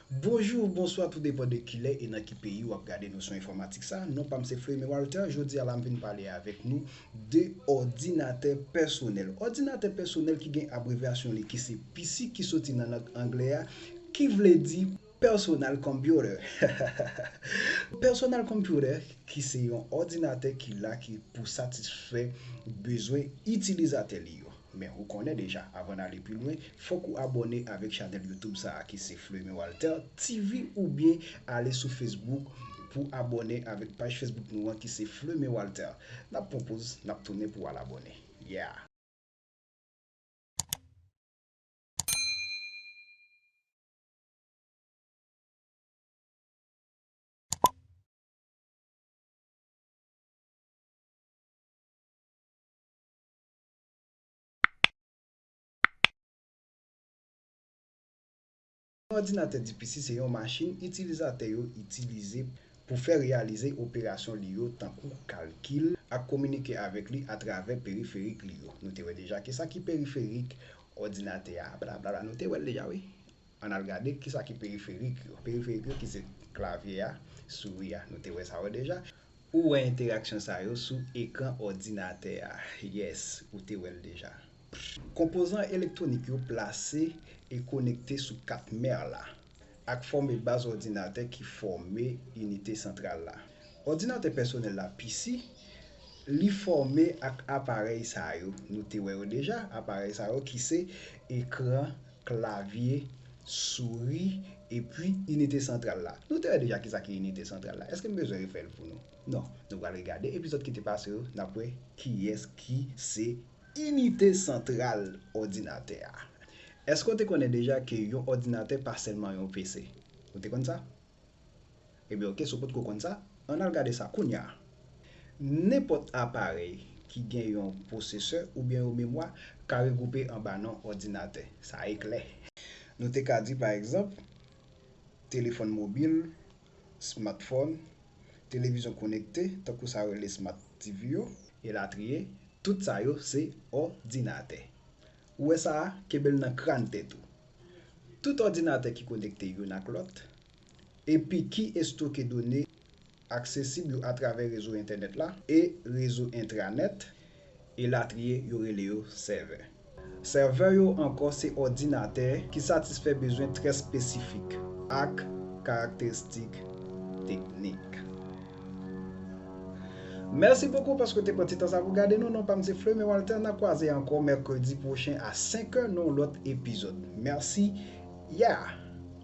Bonjou ou bonswa tou depan de kilè e nan ki peyi wap gade Nosyon Enfòmatik sa, non pam se Fleurime Walter, jodi a la m vin pale avèk nou de òdinatè pèsonèl. Òdinatè pèsonèl ki gen abrevyasyon li ki se PC ki soti nan lang anglè a ki vle di. Personal computer Yon personal computer ki se yon òdinatè ki la ki pou satisfè bezwen itilizatè li yo. Men ou konnen deja, avan n ale pi lwen, fòk ou abòne avèk chanèl YouTube sa a ki se Fleumy Walter TV oubyen ale sou Facebook pou abòne avèk paj Facebook nou an ki se Fleumy Walter. N ap pran poz, n ap tounen pou w al abòne. Yeah! Yon òdinatè DPC se yon machin itilizatè yo itilize pou fè reyalize operasyon li yo tankou kalkil ak kominike avèk li atravè periferik li yo. Nou te wè deja ke sa ki periferik òdinatè a, blablabla. Nou te wè l deja wi. Ann al gade ki sa ki periferik yo. Periferik yo ki se klavye a, souri a. Nou te wè sa yo deja. Ou wè enteraksyon sa yo sou ekran òdinatè a. Yes, ou te wè l deja. Konpozan elektwonik yo plase e konekte sou kat mèr la. ak fòme baz òdinatè ki fòme inite santral la. Òdinatè pèsonèl la pisi, li fòme ak aparèy sa yo, nou te wè yo deja, aparèy sa yo ki se, ekran, klavye, souri, epi inite santral la. Nou te wè deja kisa ki inite santral la, èske m bezwen refè l pou nou? Non. Nou pral regade epizòd ki te pase yo, n ap wè kiyès ki se Inite santral òdinatè a. Èske w te konnen deja ke yon òdinatè pa sèlman yon PC? Ou te konn sa? Ebyen ok, si w potko konn sa, ann al gade sa kounya! Nenpòt aparèy ki gen yon pwosesè oubyen yon memwa ka regwoupe anba non òdinatè. Sa e klè! Nou te ka di pa egzanp, telefòn mobil, smatfòn, televizyon konekte, tankou sa yo rele smat TV yo, elatriye, tout sa yo se òdinatè ou wè sa a, kenbe l nan kran tèt ou, tout òdinatè ki konekte youn ak lòt epi ki estoke done aksesib yo atravè rezo entènèt la e rezo entranèt, elatriye yo rele yo sèvè. Sèvè yo ankò se òdinatè ki satisfè bezwen trè espesifik ak karakteristik teknik. Mèsi bokou paske w te pran ti tan sa pou w gade nou. Non pa m se Flemé Walter. N a kwaze ankò mèkredi pwochen a 5 è nan yon lòt epizòd. Mèsi. Yeah!